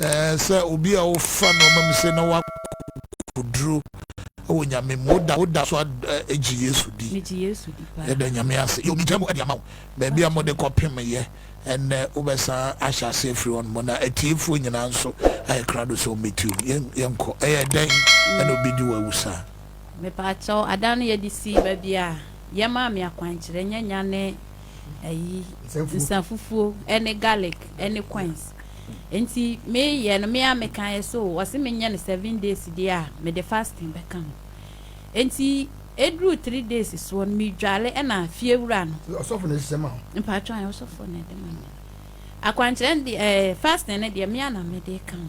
Ɛɛ, sɛ obi a ɔfa nnoɔma mu sɛ na woakokoduro wɔ Nyame mu, woda woda so agye Yesu di? Megye Yesu di paa. Yɛda Nyame ase. Yo, megya mu de ama wo. Baabi a mode kɔpem yɛ ɛnnɛ, wobɛsan ahyɛ aseɛ afiri hɔ nom. Na atiefoɔ nyinaa nso ayɛ krado sɛ wɔmmɛtie wo. Yɛn, yɛnkɔ. Ɛyɛ dɛn na obi de wo awu saa? Mepaakyɛw, adan no yɛde sii baabi a yɛmaa me akwankyerɛ, nyanya ne ayi nsafufuo ne garlic ne coins nti meyɛ no mea meka yɛ so wɔse menyɛ no seven days deɛ a mede fasting bɛka ho nti ɛduru three days soɔ no medwale ɛna fie wura no ɔsɔfo na ɛhyehyɛ ma mpatwɔ ayɛ ɔsɔfo na ɛde ma me akwankyerɛ no deɛ ɛɛ fasting no deɛ mea na mede ka ho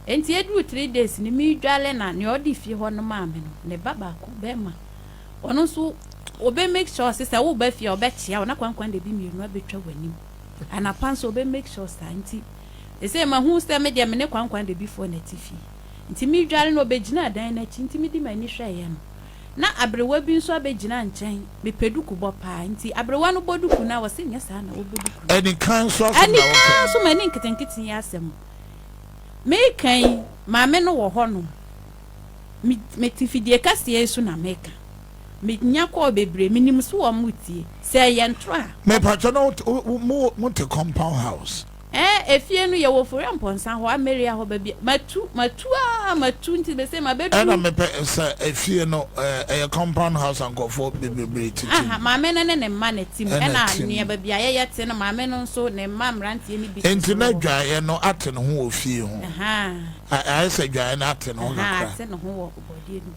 nti ɛduru three days no medwale na nea ɔde fie hɔ no maa me no ne ba baako bɛrima Ɔno nso ɔbɛ make sure sɛ sɛ woba fie a ɔbɛkyea wo na kwankwan de bi mmienu abɛtwa w'anim. Anapa nso ɔbɛ make sure saa nti ɛsɛ mahu sɛ me deɛ me ne kwankwan de bi foɔ na ɛte fie. Nti me dware no ɔbɛgyina adan no akyi nti me di m'ani hwɛeɛ no na aberewa bi nso abɛgyina nkyɛn. Me pɛ duku bɔ paa nti aberewa no bɔ duku no a ɔse nyɛ saa na wɔbɔ duku no. Anika nso asɛm na woka yi. Anika nso m'ani nketenkete yi asɛm me ka yi maame no wɔ hɔ nom. Me mete fidie kɛseɛ yi so na meka. Me nya kɔɔ bebree, me nim so wɔn mo tie. Sɛ ɛyɛ ntorɔ a. Me patwɔ na mo te compound house. Ɛɛ efie no yɛ wɔ Foria Mpɔnsa hɔ, Ameria hɔ baabi a. Matu, matu aa matu nti me se ma bɛ duru. Ɛna me pɛ sɛ efie no ɛyɛ compound house a nkorɔfoɔ bebree te tim. Aha, maame no ne ne mma na te mu, ɛna nea baabi a yɛ yɛ te no maame no nso ne mma mmeranteɛ no bi te so wɔ hɔ. Nti na dwaeɛ no ate ne ho wɔ fie ho. Ahaa. ayɛ sɛ adwaeɛ no ate ne ho kakra ate ne ho wɔ bɔdeɛ no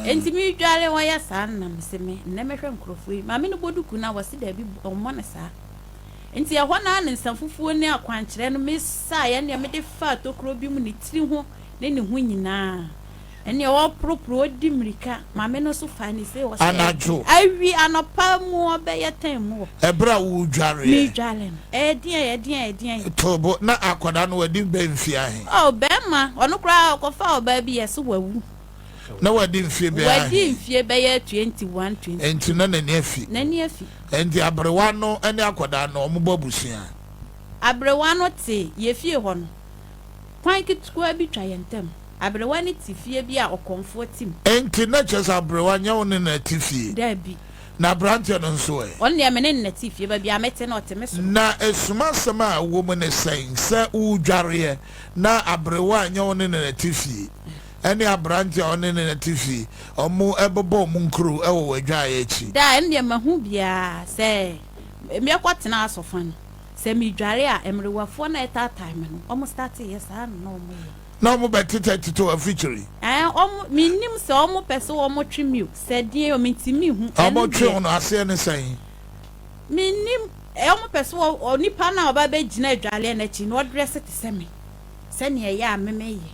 mu enti medware wɔyɛ saa na mese me nnɛ mɛhwɛ nkurɔfoɔ yi maame no bɔ duku no a wɔse daabi ɔmmɔ no saa nti ɛhɔ no ne nsa fufuo ne akwankyerɛ no mesaeɛ neɛ mede faa tokuro bi mu ne tiri ho ne ne ho nyinaa ɛneɛ ɔporoporo ɔdi mmirika Maame no nso faa ne fie hɔ sɛ. Anadwo. Awi anɔpa mu ɔbɛyɛ tɛn mu hɔ. Ɛberɛ a woredwareɛ. Meredware no. Ɛdeɛn, ɛdeɛn, ɛdeɛn. Too bo, na akwadaa no wadi bɛn mfeɛ ahe? Oh, barima, ɔno koraa ɔkɔfaa ɔbaa bi yɛɛ sɛ wawu. Na wadi mfeɛ bɛyɛ ahe? Wadi mfeɛ bɛyɛ twenty one, twenty two. Enti na n'ani afi. N'ani afi. Enti aberewa no ne akwadaa no, wɔbɔ abusua? Aberewa no te yɛn fie hɔ no, kwan ketewa bi twa yɛn ntam. Aberewa no te fie bi a ɔkɔmfoɔ te mu. Enti na kyerɛ sɛ aberewa nyɛ wo ne no te fie? Dabi. Na aberanteɛ no nso ɛ? Ɔno deɛ me ne no na ɛte fie, baabi a mete no ɔte me soro. Na asumasɛm a ɛwɔ mu ne sɛn? Sɛ wodwareɛ na aberewa a nyɛ wo ne no na ɛte fie, ɛne aberanteɛ a wo ne no na ɛte fie, wɔbɛbɔ wɔn nkuro wɔ w'adwaeɛ akyi? Daa, ɛno deɛ mahu biara. Sɛ mekɔtena asɔfan, sɛ medware a, mmerewafoɔ no a ɛtaatae me no, wɔstate yɛ saa ara na wɔyɛ. na ɔmo bɛ tetɛ tetɛ afikyiri. Ɛɛ ɔmo me nnim sɛ ɔmo pɛ sɛ ɔmo twe me o sɛ deɛn o me ti me hu ɛno deɛ. Ɔmo twe wo no aseɛ ne sɛn? Me nnim ɛɛ ɔmo pɛ sɛ ɔ nipa no a ɔba bɛ gyina adwaleɛ no akyi no ɔdrɛse te sɛ me sɛnea ɛyɛ a me me yɛ.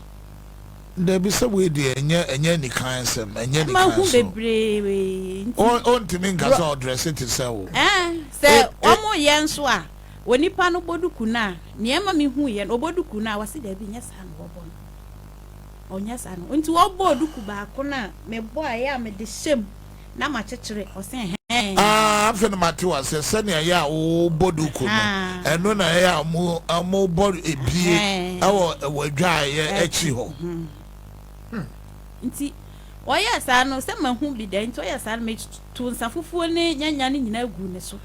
Dabi sɛ wei deɛ ɛnyɛ ɛnyɛ anikan asɛm ɛnyɛ anikan so. Mahu bebree nti. Ɔ ɔntumi nka sɛ ɔdrɛse te sɛ wo. Ɛɛ sɛ ɔmo yɛ nso a. onipa no bɔ duku no a, nea ɛma mihuiɛ no, ɔbɔ duku no a, wɔse daabi, nyɛ saa na wɔbɔ no. Ɔnyɛ saa no. Nti wɔbɔɔ duku baako no a, mebɔeɛ a mede hyɛ mu na makyekyere, ɔse ɛhɛɛn. Ah, afei na mate wo aseɛ, sɛnea ɛyɛ a wobɔ duku no, ɛno na ɛyɛ a mobɔ ebie wɔ w'adwaeɛ akyi hɔ. Nti ɔyɛɛ saa no, sɛ mahu bi da nti ɔyɛɛ saa no, meto nsa fufuo ne nyanya no nyinaa guu ne so.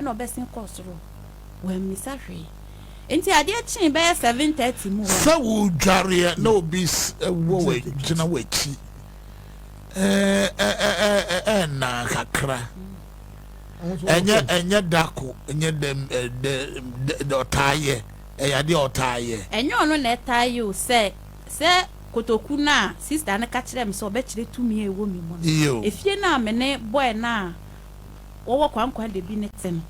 na ɔbɛsen kɔɔ soro. Wammisa hwee. Enti adeɛ kyee bɛyɛ seven thirty mu hɔ no. Sɛ woredwareɛ na obi wɔ gyina w'akyi ɛnna kakra, ɛnyɛ ɛnyɛ dako, ɛnyɛ dɛm dɛ ɔtaa yɛ, ɛyɛ adeɛ a ɔtaa yɛ. Ɛnyɛ ɔno na ɛtaa yɛ o, sɛ sɛ kotoku no a sista no ka kyerɛɛ me sɛ ɔbɛkyerɛ tumi a ɛwɔ me mu no, efie no a me ne boy no a wɔwɔ Kwankwa Dabi no te no.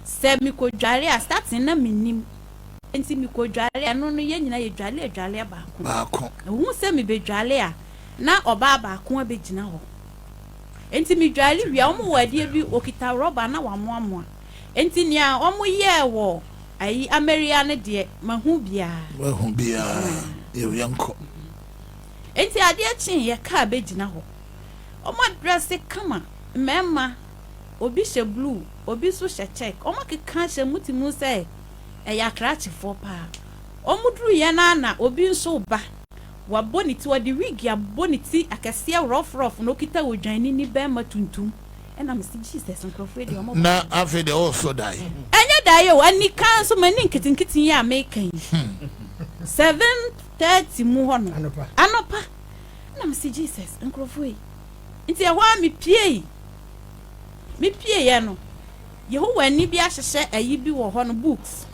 Sɛ mikodware a, starting na minnim, enti mikodware a, ɛno no yɛn nyinaa yedware adwareɛ baako. Baako. Mehu sɛ mebɛdware a, na ɔbaa baako abɛgyina hɔ. Enti medware wie a, wɔwɔ adeɛ bi, wɔkita rɔba na wɔamoamoa. Enti nea wɔyɛɛ wɔ ayi Ameria no deɛ, mahu biara. Woahu biara, yɛwie nkɔ. Enti adeɛ kyeeɛ, kaa bɛgyina hɔ. Ɔmo adrɛse kama, mmɛɛma, obi hyɛ bluu, obi nso hyɛ kyɛk, ɔmo akeka ahyɛ mu te mu sɛ ɛyɛ akrakyefoɔ paa. Ɔmo duruiɛ no ara na obi nso reba. Wabɔ ne ti, ɔde wig abɔ ne ti akɛseɛ rɔf rɔf na okita odwannini bɛɛma tuntum. Ɛna me se Jesus nkorɔfoɔ yi deɛ ɔmo ba. Na afei deɛ ɔɔsɔ dae. Ɛnyɛ dae o, anika nso m'ani nketenkete yi a meka yi. Seven thirty mu hɔ nom, anɔpa. Nna mese Jesus nkorɔfo ei. Ntsi ɛhɔ ara mipuei. Mipueiɛ no, Yehowani bi ahyehyɛ ayi bi wɔ hɔ no, books.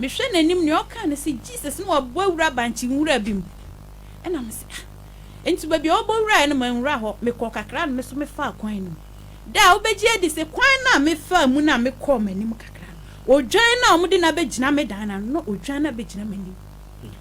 Mehwɛ n'enyim, nea ɔkã no se Jesus na ɔabɔ ewura bankye nwura bi mu. Nna mese ah. Ntsi beebi a ɔbɔ wurae no, mennwura hɔ, mekɔr kakra na me so mefaa kwan no mu. Dɛ a wobegye adi se kwan no a mefaa mu no a mekɔr m'enyim kakra no, odwan no a wɔde no abegyina me dan no ano no na odwan no abegyina m'enyim.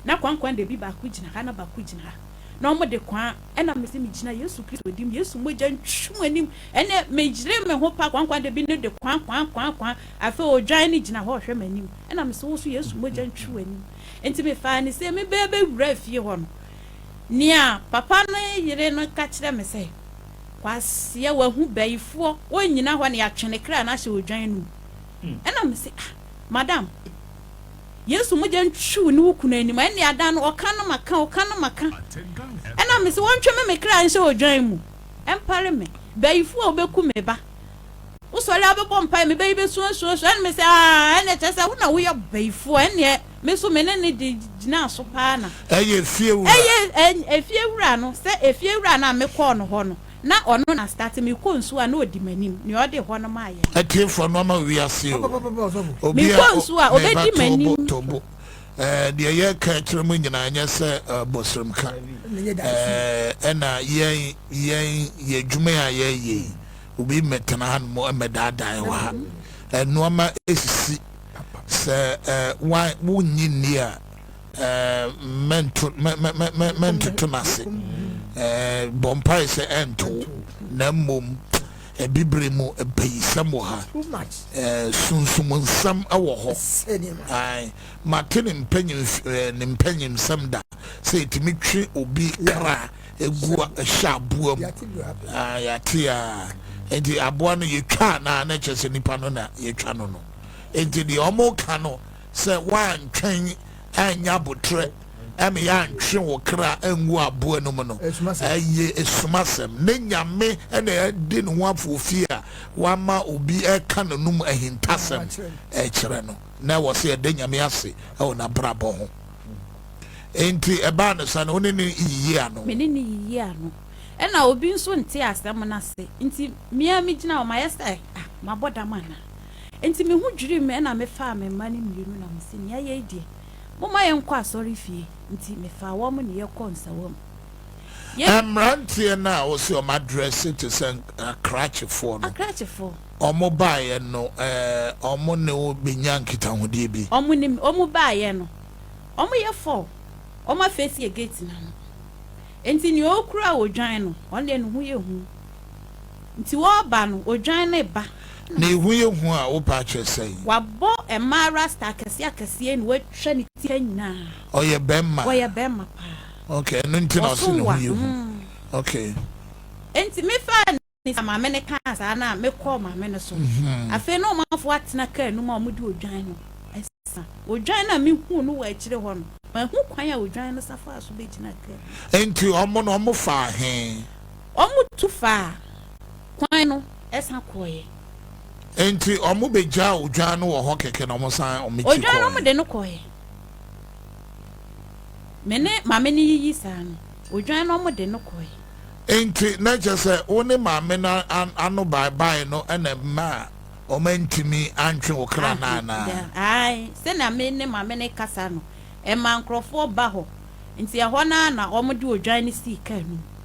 Na koankoa dabi baako gyina ha na baako gyina ha na ɔmo de koa ɛna mese megyina Yesu Kristo dim Yesu mogya ntwi mo anim ɛnɛ meyere me ho pa koankoa dabi no de koa koa koa koa afei odwan no gyina hɔ ɔhwɛ m'anim ɛna mese wo so Yesu mogya ntwi w'anim nti mefaa ne sɛ mebɛɛ bɛwura fie hɔ no nea papa no yere no ka kyerɛ me sɛ kwaseɛ wahu bayifoɔ ɔnyina hɔ na yɛatwe ne kra no ahyɛ odwan no mu ɛna mese ah madam Yesu mogya ntwiw ne wo kunu anim a, ɛnneɛ adan no, ɔka no maka, ɔka no maka. Ɛna mese, wɔntwe me me kra nhyɛ odwan mu, ɛmpare me. Bayifoɔ a wobɛku me ba, wosɔre a wobɛbɔ mpaeɛ, me ba yi bɛsuasuasu. Ɛna mese, aa, ɛnneɛ kyerɛ sɛ wo na woyɛ bayifoɔ, ɛnneɛ me nso me ne no de gyinaa so paa na. Ɛyɛ efiewura. Ɛyɛ efiewura no, sɛ efiewura no a mekɔɔ no hɔ no. Na ɔno na starte me kɔ nsuo a na ɔdi m'anim nea ɔde hɔ no maa yɛn. Atiefoɔ no ama wiase o. Obi a o ne ba to bo to bo. Ɛɛ deɛ yɛreka akyerɛ mo nyinaa nyɛ sɛ bɔsrɛmka. Ɛɛ ɛna yɛn yɛn yɛ adwuma a yɛreyɛ yi obi mmɛtena ha nom mmɛdaadaa yɛn wɔ ha. Nnoɔma esisi sɛ ɛɛ wa wonnye nni a. mɛntoto no ase bɔ mpae sɛ ɛntow na mmom bibire mu mpayisɛm wɔ ha sunsum nsɛm wɔ hɔ mate ne ne mpanyimsɛm da sɛ ɛtumi twe obi kra ɛgu hyɛ aboa mu yɛate a enti aboa no yɛtwa na na kyerɛ sɛ nipa no na yɛtwa no no enti deɛ ɔmo ka no Sɛ woantwɛn annya aboterɛ ɛma yɛantwe wo kra angu aboa no mu no, ɛyɛ asumasɛm. Ne Nyame na ɛde ne ho afoofie a wama obi reka n'anom ahintasɛm rekyerɛ no, na ɛwɔ sɛ yɛda Nyame ase wɔ n'abrabɔ ho. Enti ɛbaa no saa no, wo ne no yiyi ano? Me ne no yiyi ano. Ɛna obi nso ntee asɛm no ase, enti me ara migyina hɔ, mayɛ sɛ, ah, mabɔ dam anaa? Enti me ho dwirii me na mefaa me mma no mmienu na mese, Nea yɛyɛ yi deɛ, momma yɛnkɔ asɔrefie. Enti mefaa wɔn na yɛkɔɔ nsawam. Yɛ. Mmeranteɛ no a wɔse wɔn adrɛse te sɛ Akrakyefoɔ no, Akrakyefoɔ. wɔn baeɛ no, ɛɛ, wɔn ne wo bɛnya nkitahodie bi? Wɔn ne me, wɔn baeɛ no, wɔyɛ four, wɔafeesie gate no ano. Enti nea ɔkura odwan no, ɔno deɛ ne ho yɛ hu. Nti wɔba no odwan ne ba na. Ne ho yɛ hu a wopɛ akyerɛ sɛn. Wabɔ mmaa rasta akɛseɛ akɛseɛ na watwa ne ti ha nyinaa. Ɔyɛ bɛmma. Ɔyɛ bɛmma paa. Ok ɛno nti na ɔse ne ho yɛ hu ok. Nti me faa ne sa maame no kaa saa no a me kɔɔ maame no so afei na ɔmanfoɔ atena kaa no mu a wɔn de odwan no sa. Odwan no a me huu no wɔ akyire hɔ no mahu kwan a odwan no sa faa so bɛgyina kaa no mu. Nti wɔn no wɔn faa he? Wɔtu faa kwan no san kɔeɛ. Enti wɔbɛgyaa odwan no wɔ hɔ kɛkɛ na wɔsan tu kɔeɛ. Odwan no wɔde no kɔeɛ. Me ne maame no yiyi saa no, odwan no wɔde no kɔeɛ. Enti na kyerɛ sɛ wo ne maame no ano baebae no na ɛmaa wɔantumi antwe wo kra no anaa? Aane, sɛnea me ne maame no rekasa no, ɛmaa nkurɔfoɔ ba hɔ. Enti ɛhɔ no ara na wɔde odwan no sii kaa no mu.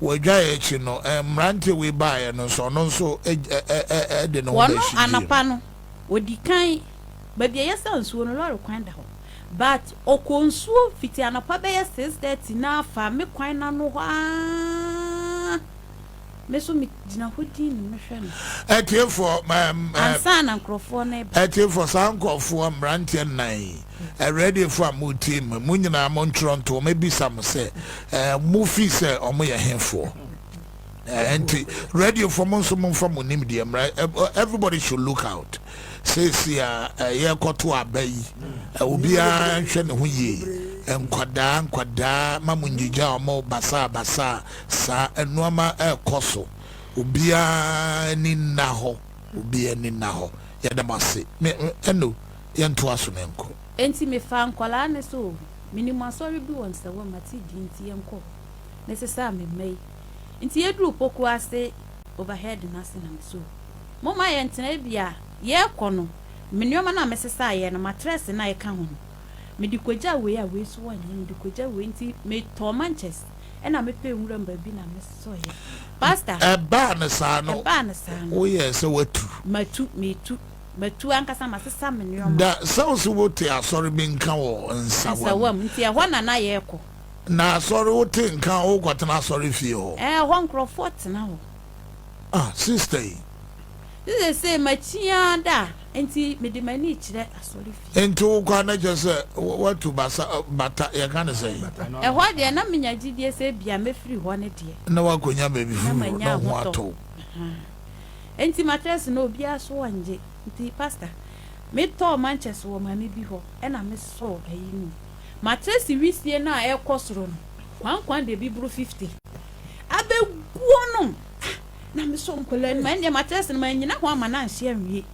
Wɔgyaee akyi no, mmeranteɛ wei baeɛ no nso, ɔno nso de ne ho Wɔno bɛhyegyeeɛ mu. anɔpa no, ɔdi kan, baabi a yɛsa nsuo no, lɔre kwan da hɔ. But ɔkɔɔ nsuo fiti anɔpa bɛyɛ six thirty no ara faa me kwan no ano hɔ ara. Me nso megyina hɔ dinn mehwɛ no. Atiefoɔ, Ansa na nkurɔfoɔ no reba. Atiefoɔ, saa nkurɔfoɔ, mmeranteɛ nnan yi, Awuradefo a moretie me, mo nyinaa montwerɛ nto, mɛbisa mo sɛ, Mofi sɛ wɔyɛ hefoɔ? Enti, radiofoɔ mo nso momfa mo nimdeɛ mmra. Everybody should look out. Seesei a yɛrekɔto aba yi, obiara nhwɛ ne ho yie. Nkwadaa nkwadaa ma mo ngyigya wɔn basaa basaa saa. Nneɛma ɛrekɔ so. Obiara ani nna hɔ. Obiara ani nna hɔ. Yɛda mo ase. Me, ɛno. yɛntoa so na nkɔ. Enti mefaa nkwadaa no sɛ, O, menim asɔre bi wɔ Nsawam, mate din nti yɛnkɔ hɔ. Mesesaa me mma yi. Enti yɛduruu Poku ase overhead no ase na mesoo, Momma yɛntena ebia yɛrekɔ no, me nneɛma no a mesesaeɛ no, matrɛse no a ɛka ho no, mede kɔgya wei a wei nso wɔnyɛ, mede kɔgya wei. Enti metɔɔ mankyɛse ɛnna mepɛɛ nwuram baabi na mesɔeɛ. Pastor. Ɛbaa no saa no, woyɛɛ sɛ woatu. Matu, metu. Matu ankasa, masesa me nneɛma. Da sɛ wo se wo te asɔre bi nka wɔ nsawam. Nsawam, nti ɛhɔ na na yɛkɔ. Na asɔre, wo te nka wo kɔ tena asɔre fie hɔ. Ɛhɔ nkorɔfoɔ tena hɔ. Ah, sista yi. Nti sesei makyiaa da, nti mede m'ani kyerɛ asɔre fie. Nti wo kɔ a na kyerɛ sɛ watu basa, bata, yɛka ne sɛn? Ɛhɔ deɛ na menya gyidie sɛ ebia mɛfiri hɔ ne deɛ. Na wakɔnya baabi foforɔ, na wo ho atɔ wo. Enti matress no obiara so angye nti pastor me tɔɔ manches wɔ mame bi hɔ ɛna me sɔɔ ayi no mu. Matress wisie no a ɛkɔ soro no kwan kwan deɛ bi boro fifty abɛ guo nom ah na me sɔ nkwadaa no mu ɛndeɛ matress no mannyina ho ama no anhye anwie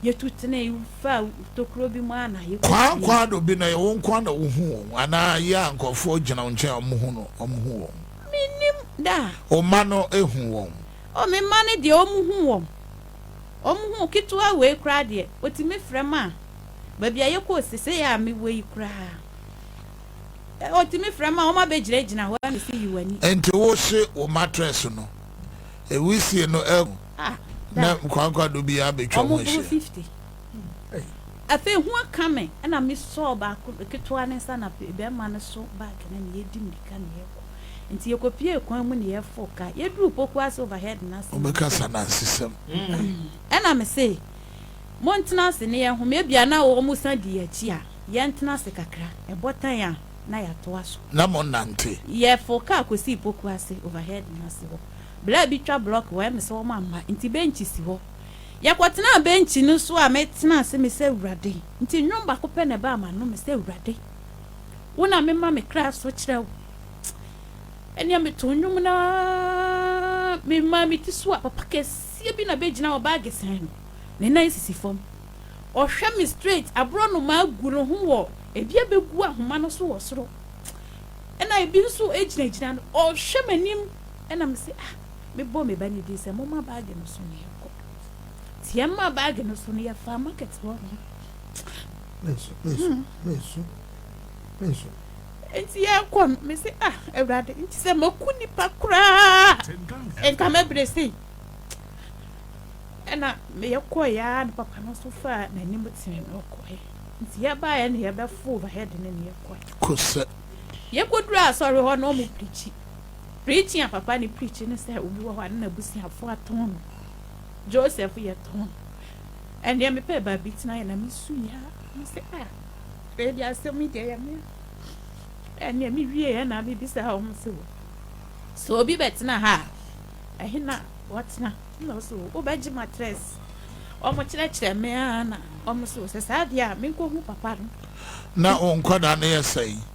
yɛ tu tenee faa tokuro bi mu a na yɛ kɔ Kwan kwan do bi no ɛyɛ wo nkoa na wo hu wɔn anaa yɛ a nkorɔfoɔ gyina wo nkyɛn a wɔn hu no wɔn hu wɔn? Mennim da. Wo mma no hu wɔn? O me mma no deɛ wɔn hu wɔn, wɔn hu ketewa wei koraa deɛ wɔtumi frɛ ma a, baabi a yɛkɔɔ sesei a mewɔ yi koraa, wɔtumi frɛ ma a, wɔn abɛgyinagyina hɔ a mesi yi w'ani. Nti wo hye wo mattress no, ɛwisie no agu, na nkwankwa do biara bɛtwa mu ahyia. Afei hu aka me na me sɔɔ baako ketewa ne nsa na bɛrima no so bag no na yɛdi mirika na yɛkɔ. Nti yɛkɔpiee kwan mu na yɛforo kaa. Yɛduruu Poku ase overhead no ase no. Wɔbɛkasa Nansesɛm. Ɛna me se, Montena ase ne yɛn home. Ebia na wɔsan di yɛn akyi a, yɛntena ase kakra. Ɛbɔ tan a, na yɛatoa so. Na monnante. Yɛforo kaa kɔsii Poku ase overhead no ase hɔ. Bere a bi twa block wɔ Ɛme sɛ wɔamma nti bench si hɔ. Yɛkɔtenaa bɛnkyi no so a metenaa ase mesɛ, Awurade, nti nnwom baako pɛ na ɛbaa m'ano, mesɛ, Awurade, wo na mema me kra so kyerɛ wo. Ɛnneɛ metoo nnwom no ara memaa me ti so a papa kɛseɛ bi na bɛgyina hɔ, baage sɛn no, ne nan sisi fam. Ɔhwɛ me straight, aborɔnoma agu ne ho wɔ, ebi abɛgu ahoma no so wɔ soro, ɛna ebi nso gyinagyina no, ɔhwɛ m'anim, ɛna mese, ah, Mebɔɔ me ba no din sɛ, Momma baage no so na yɛnkɔ. Nti yɛmmaa baage no so no, yɛfaa market hɔ no. Menso, menso, hmm. menso, menso. Nti yɛkɔ no, mese, ah, Awurade, nti sɛ maku nipa koraa, nka mɛbrɛ sei. Ɛna meyɛ kɔɔ yɛa no papa no nso faa n'anim tene no ɔkɔe. Nti yɛbaeɛ no yɛbɛfo overhead no ne yɛkɔe. Kosɛ. Yɛkɔduru asɔre hɔ na ɔmo pirikyi. Preaching a papa no preach ne sɛ obi wɔ hɔ a ne n'abusuafoɔ atɔn no. Joseph yɛ tɔn. Ɛnneɛ mepɛɛ baabi tenaeɛ na mesu yɛ a, mese ah wei deɛ asɛm yi deɛ ɛyɛ me a. Ɛnneɛ mewieɛ na mebisaa wɔn se wɔ sɛ obi bɛtena ha a ɛhe na wɔtena na wɔse wɔ wobɛgye matress. Wɔn kyerɛkyerɛ me ara na wɔn se wɔ sɛ saa deɛ a menkɔhu papa no. Na wo nkwadaa no yɛ sɛn?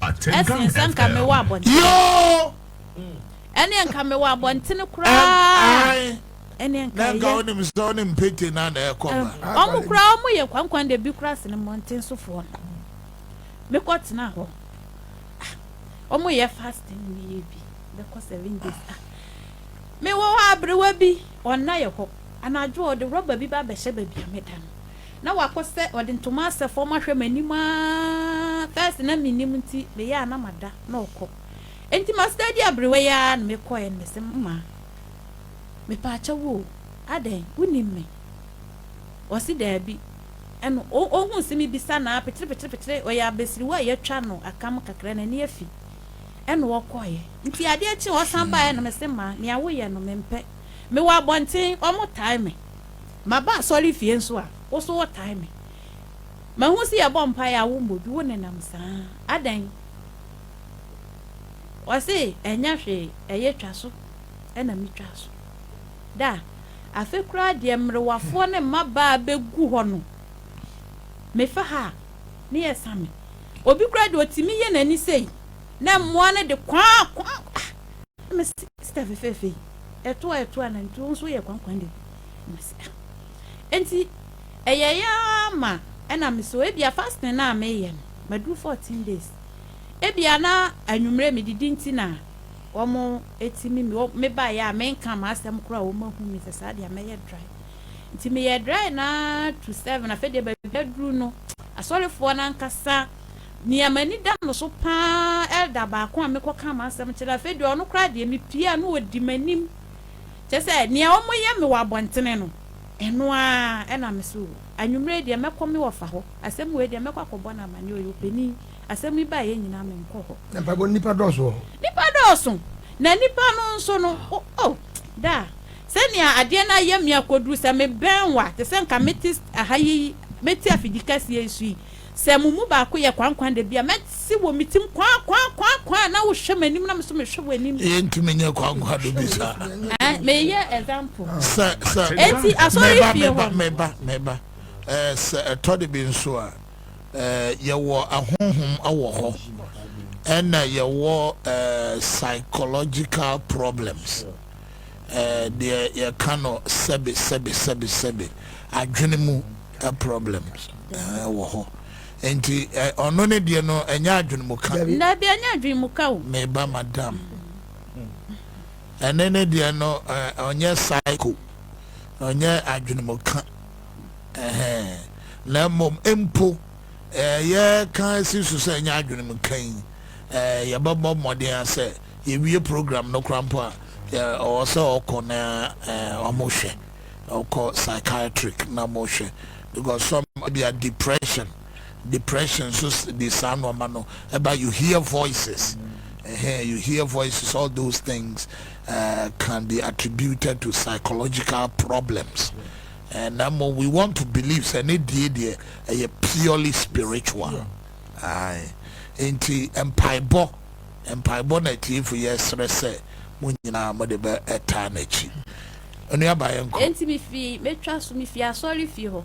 Ɛsen sɛ nka mewɔ abɔntene. Ɛneɛ nka mewɔ abɔntene koraa. Ɛneɛ nka ɛyɛ. Ɔmo koraa ɔmo yɛ kwankwan de bi koraa sene mmɔnten so foɔ no. Mekɔ tena hɔ. Ɔmo ah, yɛ fasting ne yɛ bi. Bɛkɔ seven days. Ah. Mewɔ hɔ aberewa bi ɔnna yɛ hɔ. Anadwo ɔde rɔba bi ba bɛhyɛ baabi a meda no. na wakɔ sɛ ɔde ntoma asɛ fam ahwɛ m'anim aa first na mennim nti meyɛ a na mada na ɔkɔ nti ma steady aberewa yi aa na mekɔɛ no mese mmaa mepaakyɛw oo adɛn wonim me ɔse daabi ɛna ɔhuu se mebisa no aa petere petere petere ɔyɛ abasiriwa a yɛatwa no akam kakra n'ani afi ɛna ɔkɔeɛ nti adeɛ kye ɔsan baeɛ na mese mmaa nea woyɛ no mempɛ mewɔ abɔnten ɔmo tae me Maba asɔrefie nso a, wo nso wotaa me. Mahu sɛ yɛbɔ mpaeɛ a wommɔ bi, wonenam saa. Adɛn? Ɔse, Ɛnyɛ hwee, ɛyɛ twa so na metwaa so. Da, afe koraa deɛ mmerewafoɔ ne mmabaa bɛgu hɔ no, mefa ha a, ne yɛsa me. Obi koraa deɛ ɔtumi yɛ n'ani sei, na mmoa no de kwaa kwaa ah! Na mese, Sista fefeefe yi, ɛto a ɛto anantwie, wo nso woyɛ kwankwan deɛ. Enti ɛyɛe ara ma ɛna me so ebia fasting no a meyɛ no maduru fourteen days. Ebia na anwummere medidi nti na wɔtumi mebaeɛ a menka m'asɛm koraa a wɔahu me sɛ saa deɛ mɛyɛ dry. Nti meyɛ dry na to seven afei deɛ baabi aduru no asɔrefoɔ no ankasa nea m'ani da no so paa elder baako a mekɔka m'asɛm kyerɛ afei deɛ ɔno koraa deɛ mepie a na ɔdi m'anim Kyerɛ sɛ, nea wɔyɛ me wɔ abɔntene no, ɛno ara na me nso. Anwummere yi deɛ, mɛkɔ me wɔfa hɔ. Asɛm wei deɛ, mɛkɔ akɔbɔ no amanneɛ. Ɔyɛ ɔpanin. Asɛm yi baeɛ nyinaa, menkɔ hɔ. Na mpaebɔ no, nnipa dɔɔso wɔ hɔ. Nnipa dɔɔso. Na nnipa no nso no, o, o, daa, sɛnea adeɛ no ayɛ me akɔduru sɛ mebɛn wo a, te sɛ nka mete ha yi, mete afidikɛseɛ yi so yi. Sɛ mo mu baako yɛ koankoaa da bi a, mɛte wɔ me tirim, Koaa, koaa, koaa, koaa, na wohwɛ m'anim na me nso mehwɛ w'anim. Yɛntumi nyɛ koankoaa da bi saa. Eh, meyɛ example. Sɛ, sɛ. Enti asɔre fie hɔ no. Meba, meba. Eh, sɛ ɛtɔ de bi nso a, eh, yɛwɔ ahonhom wɔ hɔ, ɛna yɛwɔ eh, psychological problems, eh, deɛ yɛka no sɛbe, sɛbe, sɛbe, sɛbe, adwene mu. problems wɔ hɔ nti ɔno ne deɛ no ɛnyɛ adwene mu ka. Dabi ɛnyɛ adwene mu ka o. Me ba madam ɛne ne deɛ no ɔnyɛ psycho ɔnyɛ adwene mu ka ɛhɛn na mmom mpo ɛyɛ ka si so sɛ ɛnyɛ adwene mu ka yi yɛbɛbɔ mmɔden asɛ yɛwie program no kora mpo a ɔwɔ sɛ ɔkɔ na ɔmo hwɛ. kɔ psychiatric na mo hwɛ because some ebia depression depression nso de saa nneɛma no ɛba you hear voices ɛhɛn you hear voices all those things uh, can be attributed to psychological problems and na mo we want to believe sɛ ne die deɛ ɛyɛ purely spiritual ae nti mpaebɔ mpaebɔ na atiefo yɛ srɛ sɛ mo nyinaa mo de bɛ ɛtaa n'akyi. Onua ba yɛnkɔ. Enti mifii me twa so, mifii asɔrefie hɔ,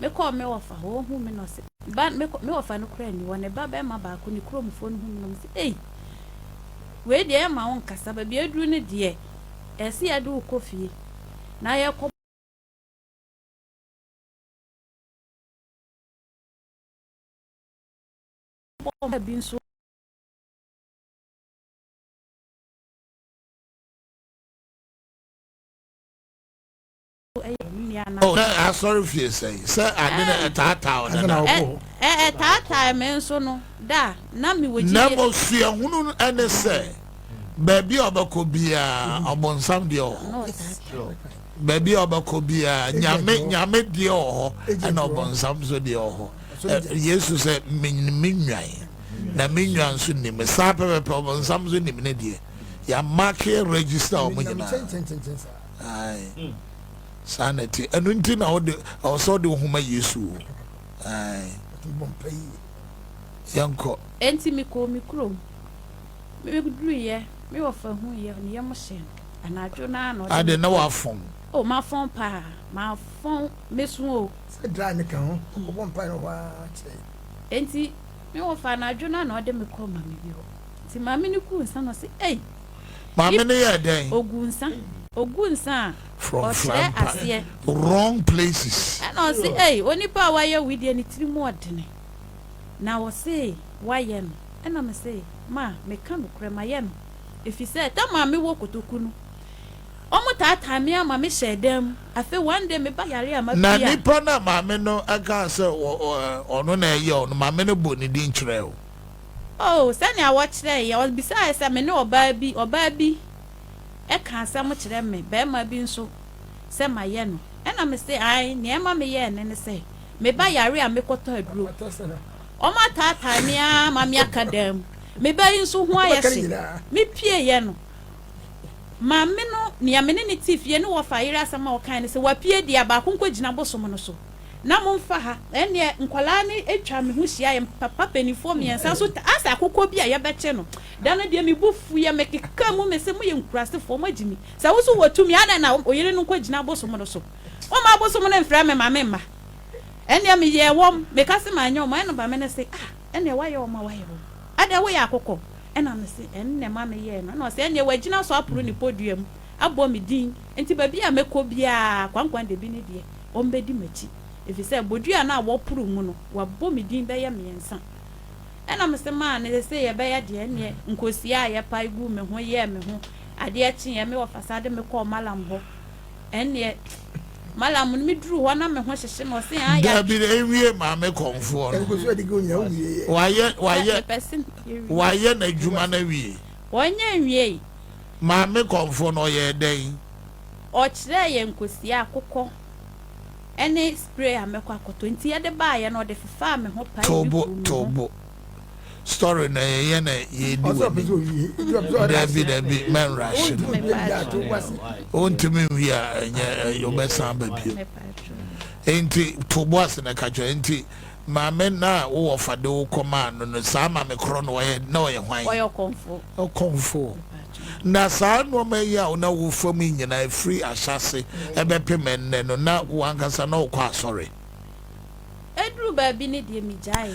mekɔɔ me wɔfa hɔ, ohuu me na ɔse, Ba, me kɔ, me wɔfa no koraa nni hɔ, ne ba barima baako, ne kuromfoɔ no hu me na wɔse, Ei! Wei deɛ yɛmma wo nkasa, baabi aduru no deɛ, ɛse yɛde wo kɔ fie, na yɛkɔ. Bɔ bi nso. Oh, na asɔre fie sɛn sɛ ade na ɛtaataa ɔda na ɛtaataa me nso no da na me wɔ gyidie na mo suahunu no ɛne sɛ baabi a ɔbɛkɔ biara ɔbɔnsam deɛ wɔ hɔ baabi a ɔbɛkɔ biara nyame nyame deɛ wɔ hɔ ɛna ɔbɔnsam nso deɛ wɔ hɔ yesu sɛ me nwan na me nwan nso nim saa pɛpɛpɛ ɔbɔnsam nso nim ne deɛ ya make register wɔn nyinaa saa na ɛte ɛno nti na ɔde ɛwɔ sɛ ɔde ohun ma yesu o yɛnkɔ. ɛnti mi kɔ mi kurom mi duru yɛ mi wɔ fa hu yɛ ne yɛ mo hyɛ anadwo naa na ɔde. ade na wa fɔn. o ma fɔn paa ma fɔn mesu o. sɛ dra ne ka ho ɔbɔ mpa yɛ hɔ ara kyerɛ. ɛnti mi wɔ fa anadwo naa na ɔde mi kɔ ma mi bi hɔ. Nti maame no guu nsa na ɔse ei. Maame no yɛɛ dɛn? Ɔguu nsa. Ɔguu nsa a, ɔkyerɛ aseɛ. Wrong places. Ɛna ɔse ei, onipa a wayɛ wei deɛ ne tiri mu ɔdene. Na ɔse wayɛ no. Ɛna me se, ma, meka nokorɛ, mayɛ no. Ɛfiri sɛ, tam a mewɔ kotoku no, wɔn taataa me ara ma me hyɛɛ dan mu. Afei one day me ba yareɛ a, mapie a. Na nipa no a maame no kaa sɛ ɔno na ɛyɛɛ no, maame no bɔɔ ne din kyerɛɛ o. Oh, sɛnea wɔkyerɛe yɛn! Ɔbisae sɛ, Me ne ɔbaa bi, ɔbaa bi ka asɛm kyerɛ me, barima bi nso, sɛ mayɛ no. Ɛnna mise, Aane. Nea ɛma meyɛɛ no ne sɛ, me ba yare a mekɔtɔ aduro. Wɔataatae me ara ma meaka dan mu. Me ba yi nso ho ayɛ hye. Mepieeɛ no. Maame no, nea me ne no te fie no wɔfa yere asɛm a ɔkae ne sɛ, Wapue deɛ, baako nkɔgyina bosom no so. na momfa ha. Ɛnneɛ nkwadaa no atwa me ho hyia, yɛn papa mpanimfoɔ mmiɛnsa nso taa sɛ akokɔ bi a yɛbɛkye no. Da no deɛ me bo fuiɛ, mekeka mu mese, moyɛ nkurasefoɔ, moagye me. Sɛ wo nso wɔ tumi a, adɛn na wo yere no nkɔgyina abosom no so? Momma abosom no mfrɛ me ma memma. Ɛnneɛ meyɛɛ wɔn, meka se manyɛ wɔn a, ɛnna maame no se, ah, ɛnneɛ woayɛ wɔn a woayɛ wɔn. Adɛn, woyɛ akokɔ? Ɛnna mese, ɛnne ma meyɛɛ no. Ɛnna ɔse, ɛnneɛ wagyina so aporo ne podua mu abɔ me din, enti baabi a mɛkɔ biara, Kwankwan Dabi ne deɛ. wɔbɛdi m'akyi, ɛfiri sɛ bodua no a wɔporo mu no, wɔabɔ me din bɛyɛ mmiɛnsa. Ɛnna mese maa no, Sɛ sei ɛbɛyɛ deɛ, ɛnneɛ nkosua a yɛpae guu me ho yɛɛ me ho adeɛ kyeeɛ, me wɔfasa de me kɔɔ Malam hɔ. Ɛnneɛ Malam no, meduruu hɔ na me ho hyehye me, ɔse, Haa, yɛatwe. Dabi, ɛnwie maa me kɔmfoɔ no. Wayɛ, wayɛ, wayɛ n'adwuma no awie. Ɔnyɛ nwieeɛ. Maa me kɔmfoɔ no, ɔyɛɛ dɛn? Ɔkyerɛɛ yɛn kosua, akokɔ ne spray a mɛkɔ akɔtɔ nti yɛde baayɛ no ɔde fefaa me ho pae bi guu me ho. Tobo tobo story na yɛyɛ na yɛdi w'anim dabi dabi mɛnrushe no wontumi nwie a ɛnyɛ wobɛsan aba bio nti tobo ase na ɛka kyerɛ nti Maame no a wo wɔfa de wo kɔmaa no no, saa maame korɔ no, ɔyɛ, na ɔyɛ hwan? Ɔyɛ ɔkɔmfoɔ. Ɔkɔmfoɔ. Na saa nnoɔma yi a wo na wo fa mu yi nyinaa, ɛfiri ahyɛase bɛpem ɛnnɛ no, na wo ankasa na wokɔ asɔre? Ɛduru baabi no deɛ, megyaeɛ.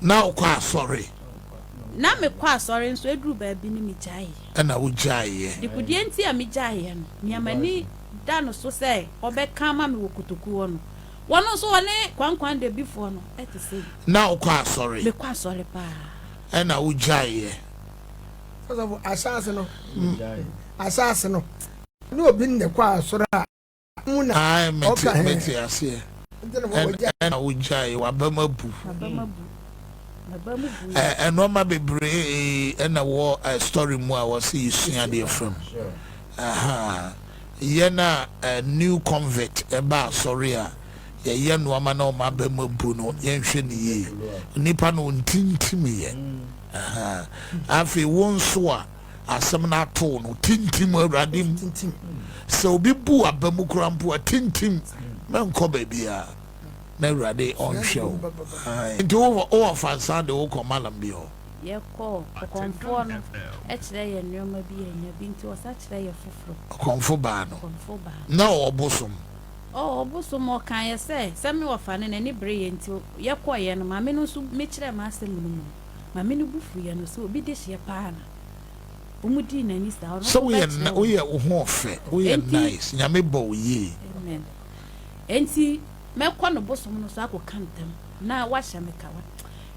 Na wokɔ asɔre? Na mekɔ asɔre, nso ɛduru baabi no, megyaeɛ. Ɛnna wogyaeɛ. Deɛ nti a megyaeɛ no, nea m'ani da no so sɛ ɔbɛka ama me wɔ kotokuo hɔ no, Wɔno nso wɔne kwankwan dabifoɔ no te sei. Na wo kɔ asɔre. Me kɔ asɔre paa. Ɛna wo gyae yɛ. Ɔsɔfo ahyɛase no ahyɛase no. Ne obi nne kɔ asɔre a mu na ɔka hɛn. Mete aseɛ. Ɛna wo gyae w'abam abu. Ɛnoɔma bebree ɛna wɔ story mu a wɔse yɛsua adeɛ from. Yɛn a new convert ba asɔre a, yɛyɛ nnoɔma na wɔn aba mu abu no, yɛnhwɛ no yie. Nnipa no wɔntintim yɛn. Afei wo nso a asɛm no ato wo no, tintim wɔ Awurade mu. Sɛ obi bu w'aba mu koraa mpo a, tintim. Mɛnkɔ baabiara na Awurade ɔnhwɛ wo. Nti wo wɔ fansa de wokɔ malam bi hɔ? Yɛkɔɔ ɔkɔmfoɔ no kyerɛ yɛn nnoɔma bi yɛanya bi nti ɔsa kyerɛ yɛ foforo. Ɔkɔmfo baa no na ɔwɔ bosom. Ɔwɔ bosom ɔkaa yɛ sɛ sɛ me wɔfa no n'ani bere yɛ nti yɛkɔɔ yɛ no maame no nso me kyerɛɛ m'asɛm no mu no maame no bo fu yɛ no sɛ obi dehyeɛ paa na ɔmo dii n'ani saa ɔno nso bɛkyerɛ wɔn. Sɛ woyɛ wo ho ɔfɛ woyɛ nice nyame bɔ wo yie. Amen enti mɛkɔ no bosom no so akɔ ka ntam na wahyɛ me kawa.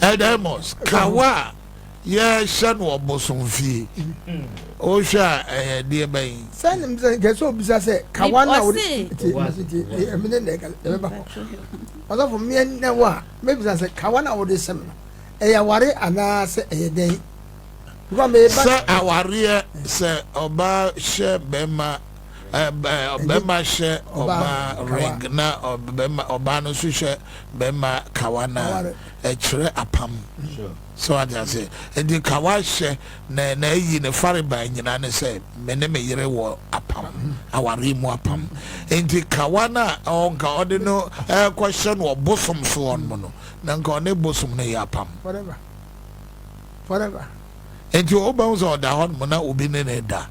Edemos, kawa a yɛhyɛ no ɔbosomfie. Wohwɛ a ɛyɛ deɛ bɛn? Sɛ nim sɛ nkɛ sɛ obisa sɛ kawa no a wode ɛmene na ɛbɛba hɔ. Ɔsɔfo mmeɛ nnɛ wo a mɛbisa sɛ kawa no a wode sɛm no ɛyɛ aware anaa sɛ ɛyɛ dɛn? Sɛ awareɛ sɛ ɔbaa hyɛ bɛma bɛrima hyɛ ɔbaa ring na ɔbaa no nso hyɛ bɛrima kawa no a ɛkyerɛ apam sɛ wate ase nti kawa hyɛ na na ayi ne fareban nyinaa ne sɛ me ne me yere wɔ apam aware mu apam nti kawa no a ɔnka ɔde no ɛkɔhyɛ no ɔbosom soɔ no mu no na nka ɔne bosom no yɛ apam forever forever nti wobɛhu sɛ ɔda hɔ nom na obi ne ne da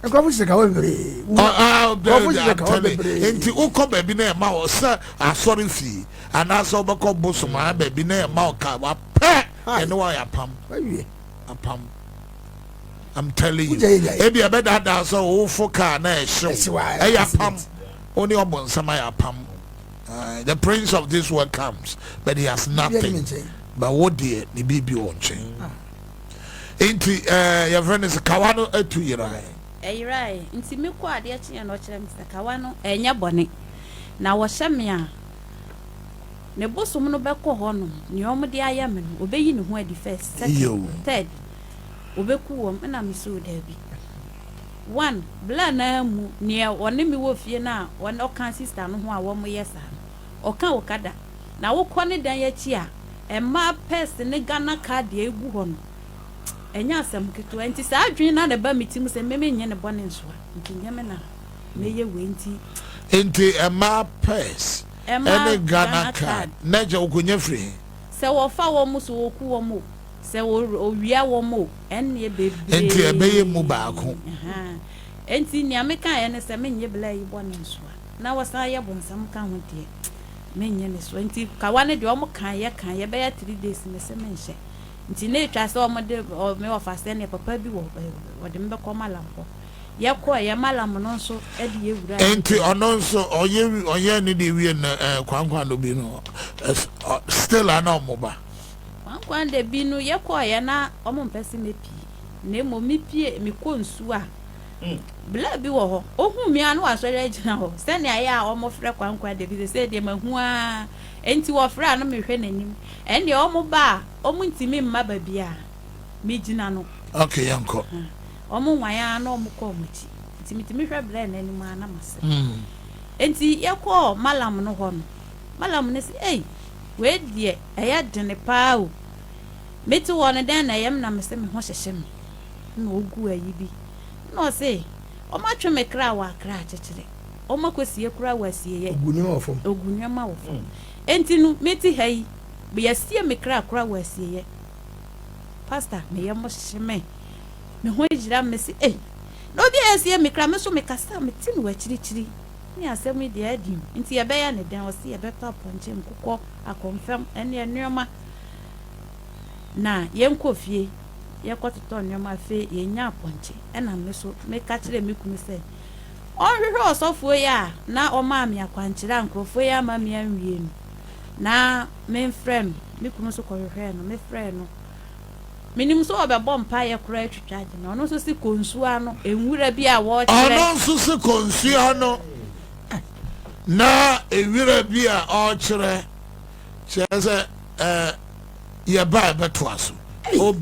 nkurɔfo hyehyɛ kawa bebree nkurɔfo hyehyɛ kawa bebree nti wokɔ baabi na ɛma wɔ sɛ asɔre fie anaasɛ wobɛkɔ bosom a baabi na ɛma wɔ kawa pɛ ɛne wɔ yɛ apam apam i'm telling you ebi ɛbɛdaadaa sɛ wofo kaa na ɛhyew ɛyɛ apam wo ne ɔbɔnsɛm ayɛ apam ah, the prince of this world comes but he has nothing but wo deɛ ne biribi wɔ nkyɛn ah. Nti ɛɛ eh, yɛfrɛ no sɛ kawa no atu yerae. Ɛyerae. Nti me kɔ adeɛ kyeɛ na ɔkyerɛ me sɛ kawa no ɛnyɛ bɔne. Na wɔhyɛ me a, me bosom no bɛkɔ hɔ nom nea wɔn de ayɛ me no, ɔbɛyi ne ho adi first, second, third, ɔbɛku wɔn. Ɛna me soo daabi. One, bla naa mu, neɛ ɔne me wɔ fie no a ɔka sister no ho a wɔyɛ saa no. ɔka okada na wokɔ ne dan akyi a mmaa purse ne Ghana card a egu hɔ no ɛnyɛ asɛm ketewa nti saa adwene no na ɛba me tirim sɛ me menyɛ ne bɔne nsoa nti nyɛ me na meyɛ wei nti Nti mmaa purse ne Ghana card na ɛkyɛ wokonya firi he? Sɛ wɔfa wɔn o, sɛ wɔku wɔn o, sɛ wɔwia wɔn o, ɛnneɛ bebree. Nti ɛbɛyɛ mu baako. Nti nea mekaeɛ ne sɛ menyɛ blaa yi bɔne nsoa. na wɔsan yɛ bonsam ka ho deɛ menyɛ ne so nti kawa no deɛ wɔn kan yɛ kan yɛ bɛyɛ three days me se menhyɛ nti na etwa sɛ wɔn de me ɔfa sɛ neɛ papa bi wɔ wɔde me bɛkɔ malam hɔ yɛ kɔ yɛ malam no nso de yɛ wura nti ɔno nso ɔyɛ ɔyɛ ne deɛ wie na ɛɛ kwankwan no bi no still ana wɔn ba kwankwan de bi no yɛ kɔ yɛ na wɔn mpɛ se me pii na mmom me pie me kɔ nsuo a. mu. Bla bi wɔ hɔ ohu me a na wasɔre agyina hɔ sɛnea ɛyɛ a wɔfrɛ Kwankwa da bi, sesei deɛ mahu ara enti wɔfrɛ a na mehwɛ n'anim. Ɛnneɛ wɔba a wɔntumi mma baabi a megyina no. Ok, yɛnkɔ. Wɔnwan ara na wɔkɔ wɔn akyi enti metumi hwɛ Bla no anim ara na masere. Enti yɛkɔɔ Malam no hɔ no, Malam no se, Ei, wei deɛ ɛyɛ dene paa o. Mete hɔ no dɛn na ɛyɛ me na mese me ho hyehye me. na ogu ayi bi, nna ɔse, Wɔatwe me kra wɔ akra akyekyere, wɔakosie koraa wɔ asieeɛ, Ogu nneɛma wɔ fam. ogu nneɛma wɔ fam. Enti no, mete ha yi, wɔasie me kra koraa wɔ asieeɛ. Pastor, me yam hye me, me ho yera me, mese, Ei, na obi a asie me kra, me nso mekasa a mete no wɔ akyirikyiri. Ne asɛm yi deɛ adi o, enti yɛbɛyɛ no dɛn? Ɔse, Yɛbɛtɔ apɔnkye, nkokɔ, akɔmfɛm, ne nneɛma, na yɛnkɔ fie. yɛkɔtotɔɔ nneɛma afei yɛnyaa pɔnkye ɛna me so meka kyerɛɛ me kunu sɛ ɔnhwehwɛ ɔsɔfoɔ yi a na ɔmaa me akwankyerɛ a nkurɔfoɔ yi ama me anwie no na memfrɛ no me kunu nso kɔhwehwɛɛ no mefrɛɛ no menim sɛ ɔbɛbɔ mpaeɛ koraa atwitwa agye me ɔno nso se kɔ nsuo ano nwura bi a wɔkyerɛ ɔno nso se kɔ nsuo ano na nwura bi a ɔkyerɛ kyerɛ sɛ ɛɛ yɛba ɛbɛtoa so obi